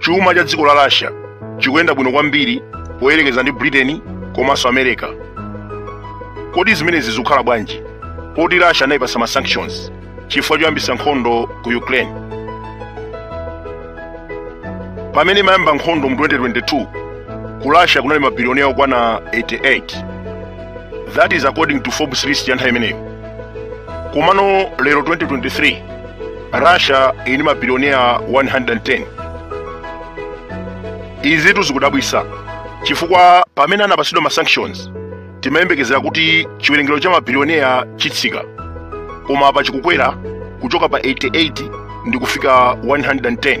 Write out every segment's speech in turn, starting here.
chuma cha dziko la russia chikuyenda bwino kwambiri poyerekeza ndi britain komanso america kodi zimenezi zikukhala bwanji poti russia anayipasa ma sanctions chifukwa choyambisa nkhondo ku ukraine pamene imayamba nkhondo mu 2022 ku russia kunali mabilionea okwana 88 that is according to forbes list ya nthawi imeneyo komano lero 2023 russia ili ndi mabilionea 110 izitu zikudabwisa chifukwa pamene anapasidwa ma sanctions timayembekezera kuti chiwerengero cha mabilionea chitsika koma apa chikukwera kuchoka pa 88 ndi kufika 110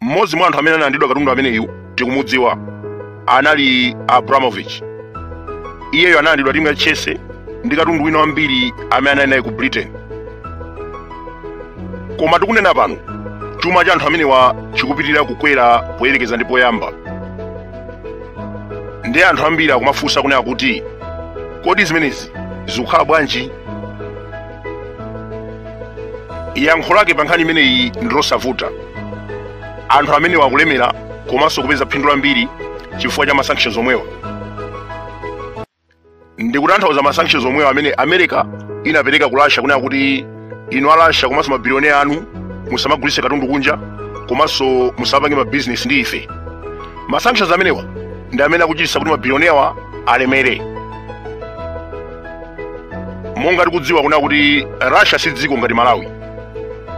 mmodzi mwa anthu amene analandidwa katundu ameneyu tikumudziwa anali abramovich iyeyo analandidwa timu ya chelsea ndi katundu wina wambiri amene anali naye ku britain koma tikunena pano chuma cha anthu amenewa chikupitirira kukwera poyerekeza ndi poyamba ndi anthu ambiri akumafunsa kunena kuti kodi zimenezi zikukhala bwanji yankho lake pa nkhani imeneyi ndi losavuta anthu amenewa akulemera komanso kupeza phindu lambiri chifukwa cha masanctions omwewa ndikutanthauza masanctions omwewa amene america inapereka ku russia kunena kuti inu a russia komanso mabilionea anu musamagulitse katundu kunja komanso musapange mabizinesi ndi ife masanctions amenewa ndi amene akuchititsa kuti mabilionea awa alemere monga tikudziwa kunena kuti russia si dziko ngati malawi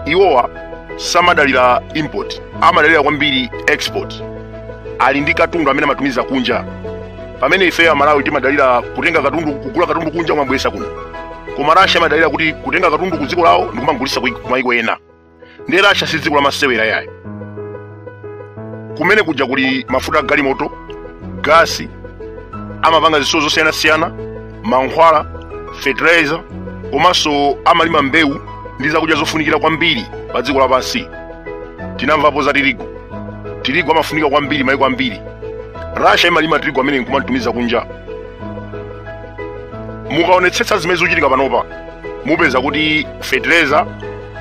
iwowa samadalira import amadalira kwambiri export ali ndi katundu amene amatumiza kunja pamene ife amalawi timadalira kutenga katundu kugula katundu kunja kumabweresa kuno koma russia amadalira kuti kutenga katundu ku dziko lawo ndi kumagulisa ku mayiko ena ndiye russia si dziko lamasewera yayi kumene kuja kuli mafuta agalimoto gasi amapanga zitsulo zosiyanasiyana mankhwala fertilizer komanso amalima mbewu ndi zakudya zofunikira kwambiri pa dziko lapansi tinamvapo za tirigu tirigu amafunika kwambiri maiko ambiri russia imalima tirigu amene nkumamtumiza kunja mukaonetsetsa zimene zikuchitika panopa mupeza kuti fertilizer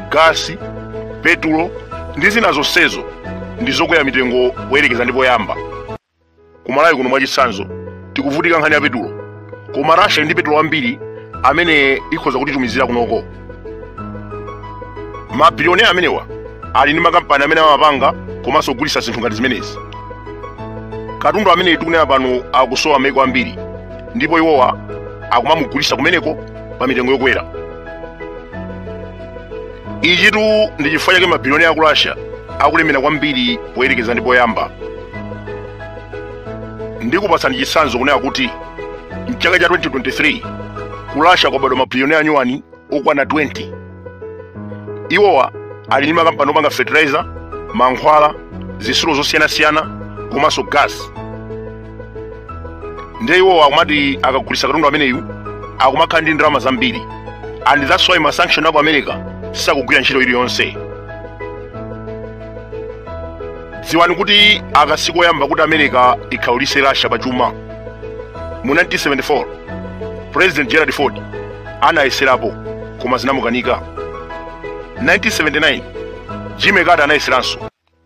gasi petulo ndi zina zonsezo ndi zokwera mitengo poyerekeza ndi poyamba ku malawi kuno mwachitsanzo tikuvutika nkhani ya petulo koma russia ili ndi petulo wambiri amene ikhoza kutitumizira kunoko mabilionea amenewa ali ndi makampani amene amapanga komanso kugulitsa zinthu ngati zimenezi katundu amene tikunena pano akusowa maiko ambiri ndipo iwowa akumamugulitsa kumeneko pa mitengo yokwera ichitu ndi chifukwa chake mabiliyoneya aku russia akulemera kwambiri poyerekeza ndi poyamba ndikupatsani chitsanzo kunena kuti mchaka cha 2023 ku russia kwabadwa mabiliyoneya anyuwani okwana 20 iwowa ali ndi makampani opanga fertilizer mankhwala zisulo zosiyanasiyana komanso gas ndiye iwowa akumati akagulitsa katundu ameneyu akumakhala ndi ndalama zambiri and that's why masanction aku america sakugwira ntchito iliyonse dziwani kuti aka sikoyamba kuti america ikhaulitse russia pa chuma mu 1974 president gerald ford anayeserapo koma zinamukanika 1979 jimmy carter anayeseranso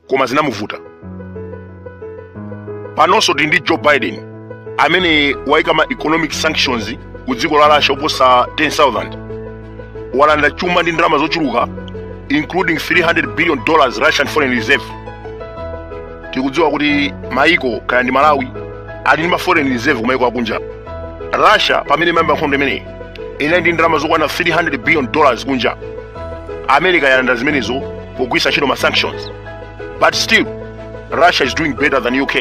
koma zinamuvuta panonso tili ndi joe biden amene waika ma economic sanctions ku dziko la russia oposa 10000 walanda chuma ndi ndalama zochuluka including 300 billion dollars russian foreign reserve tikudziwa kuti maiko kaya ndi malawi ali ndi ma foreign reserve kumaiko akunja russia pamene imayamba nkhondo imeneyi inali ndi ndalama zokwana 300 billion dollars kunja america yalanda zimenezo pogwiritsa ntchito ma sanctions but still russia is doing better than uk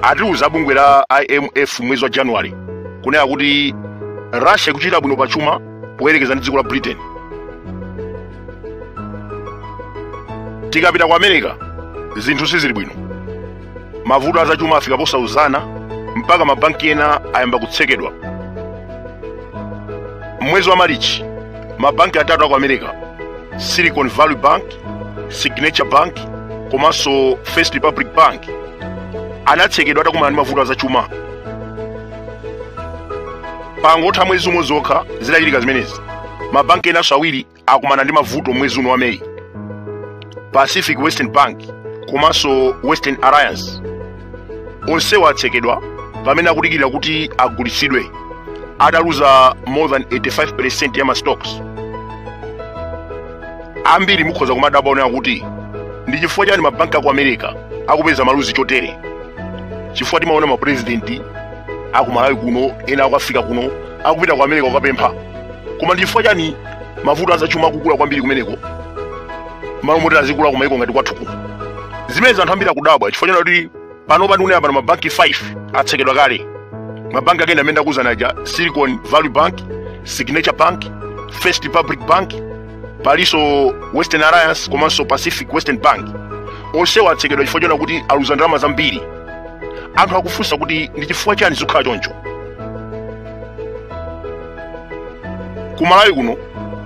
atiuza abungwe la imf mmwezi wa january kunena kuti russia ikuchita bwino pa chuma poyerekeza ndi dziko la britain tikapita ku america zinthu sizili bwino mavuto azachuma afika posauzana mpaka mabanki ena ayamba kutsekedwa mmwezi wa malichi mabanki atatu aku america silicon valley bank signature bank komanso first republic bank anatsekedwa atakumana ndi mavuto azachuma pangotha miyezi iwiri yokha zitachitika zimenezi mabanki enanso awiri akumana ndi mavuto mmwezi uno wa meyi pacific western bank komanso western alliance onsewa atsekedwa pamene akudikira kuti agulitsidwe ataluza more than 85 percent ya mastocks ambiri mukhoza kumadabwa kunena kuti ndi chifukwa chani mabanki aku america akupeza maluzi chotere chifukwa timaona mapurezidenti akumalawi kuno ena aku africa kuno akupita ku america kukapempha koma ndi chifukwa chani mavuto azachuma akukula kwambiri kumeneko malo moti azikula kumaiko ngati kwathu kuno zimenezi anthu ambiri akudabwa chifukwa chonena kuti panopa ndikunena pano mabanki 5 atsekedwa kale mabanki ake ndi amene ndakuuzani aja silicon valley bank signature bank first republic bank palinso western alliance komanso pacific western bank onsewa atsekedwa chifukwa choona kuti aluza ndalama zambiri anthu akufunsa kuti ndi chifukwa chani zikukhala choncho ku malawi kuno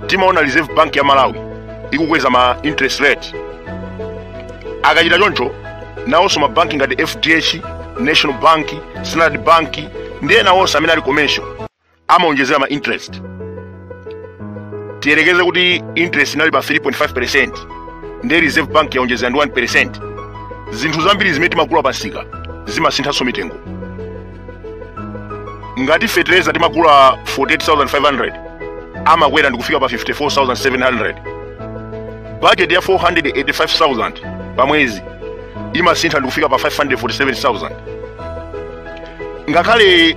timaona reserve bank ya malawi ikukweza ma interest rate akachita choncho nawonso mabanki ngati fdh national bank standard bank ndi ena onse amene ali commercial amaonjezera ma interest tiyerekeze kuti interest inali pa 3.5 percent ndi reserve bank yaonjezera ndi 1 percent zinthu zambiri zimene timagula pamsika zimasinthanso mitengo ngati fetereza timagula 48500 amakwera ndikufika pa 54700 bajeti ya 485000 pa mwezi imasintha ndikufika pa 547000 ngakhale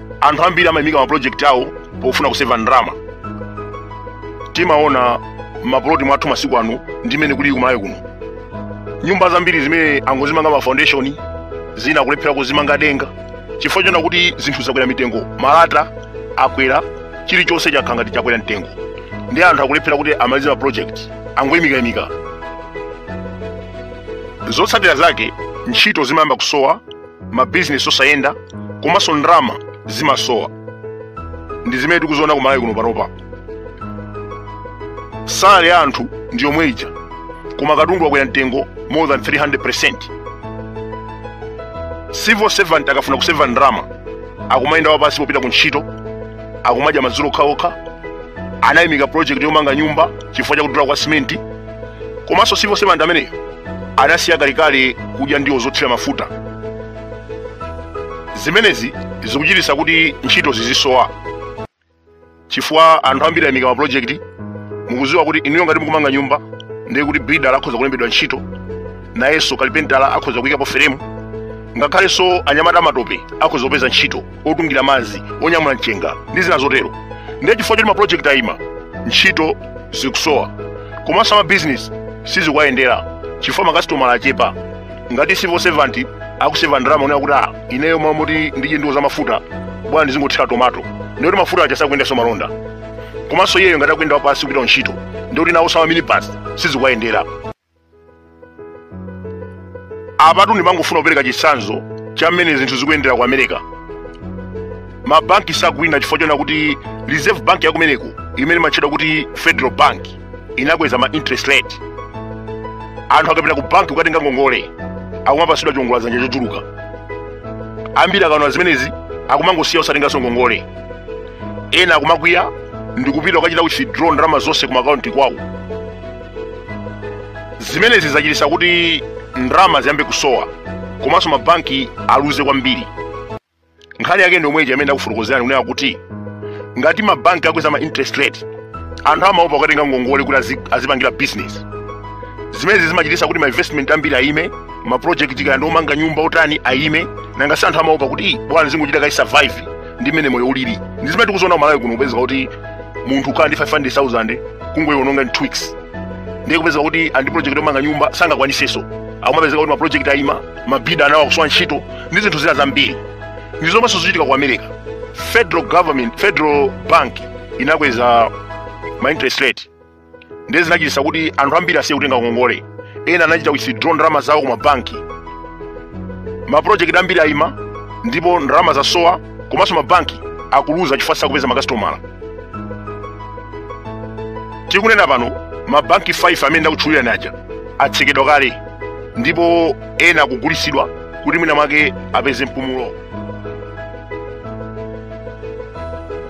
anthu ambiri amayimika mapulojekiti awo pofuna kuseva ndalama timaona mapuloti mwathu masiku ano ndi mmene kuli kumalawi kuno nyumba zambiri zimene angozimanga ma foundation zina kulephera kuzimanga denga chifukwa choona kuti zinthu zakwera mitengo malata akwera chilichonse chakhala ngati chakwera mtengo ndi anthu akulephera kuti amalize ma project angoyimikayimika zotsatira zake ntchito zimayamba kusowa mabizinesi osayenda komanso ndalama zimasowa ndi zimene tikuziona kumalawi kuno panopa salary ya anthu ndi yomwe ija koma katundu akwera mtengo more than 300 percent civil servant akafuna kuseva ndalama akumayenda wapansi popita ku ntchito akumadya madzulo okhaokha anayimika project yomanga nyumba chifukwa chakudula kwa simenti komanso civil servant ameneyo anasiya kalekale kudya ndiwo zothira mafuta zimenezi zikuchititsa kuti ntchito zizisowa chifukwa anthu ambiri ayimika mapulojekiti mukudziwa kuti inuyo ngati mukumanga nyumba ndiye kuti bidala akhoza kulembedwa ntchito nayenso kalipentala akhoza kuyikapo feremu ngakhalenso anyamata amatope akhoza kupeza ntchito otungira madzi onyamula mchenga ndi zina zotero ndiye chifukwa choti mapulojekiti ayima ntchito zikusowa komanso amabizinesi sizikuwayendera chifukwa makasitomala achepa ngati civil servant akuseva ndalama onena kuti ah ineyo m'malo moti ndidye ndiwo za mafuta bola ndizingothira tomato ndiye kuti mafuta aja sakuyendanso malonda komanso iyeyo ngati akuyenda wapansi kupita ku ntchito ndiye kuti nawonso a ma minibus sizikuwayendera apatu ndikungofuna kupereka chitsanzo cha mmene zinthu zikuyendera ku america mabanki sakuwina chifukwa chonena kuti reserve bank yakumeneko imene imatchedwa kuti federal bank inakweza ma interest rate anthu akapita ku banki kukatenga ngongole akumapatsidwa chiwongoladzanja chochuluka ambiri akaona zimenezi akumangosiya osatenganso ngongole ena akumakwiya ndikupita kukachita withdraw ndalama zonse ku makaunti kwawo zimenezi zachititsa kuti ndalama ziyambe kusowa komanso mabanki aluze kwambiri nkhani yake ndi yomwe ija imene ndakufotokozerani kunena kuti ngati mabanki akweza ma interest rate anthu amaopa kukatenga ngongole kuti azipangira business zimenezi zimachititsa kuti ma investment ambiri ayime ma project kaya ndi omanga nyumba otani ayime nanga si anthu amaopa kuti bwanji ndizingochita kaye survive ndi mmene moyo ulili ndi zimene tikuziona kumalawi kuno kupezeka kuti munthu ukhala ndi 500000 kungoiononga in 2 weeks ndiye kupezeka kuti ali ndi project yomanga nyumba sangakwanitsenso akumapezeka kuti maproject ayima mabiluda enawo akusowa ntchito ndi zinthu zina zambiri ndi zomwenso zachitika ku america federal bank inakweza ma interest rate ndiye zinachititsa kuti anthu ambiri asiye kutenga ngongole ena anachita withdraw ndalama zawo ku mabanki mapulojekiti ambiri ayima ndipo ndalama zasowa komanso mabanki akuluza chifukwa sakupeza makasitomala tikunena pano mabanki 5 amene ndakutchulirani aja atsekedwa kale ndipo ena akugulitsidwa kuti mwina mwake apeze mpumulo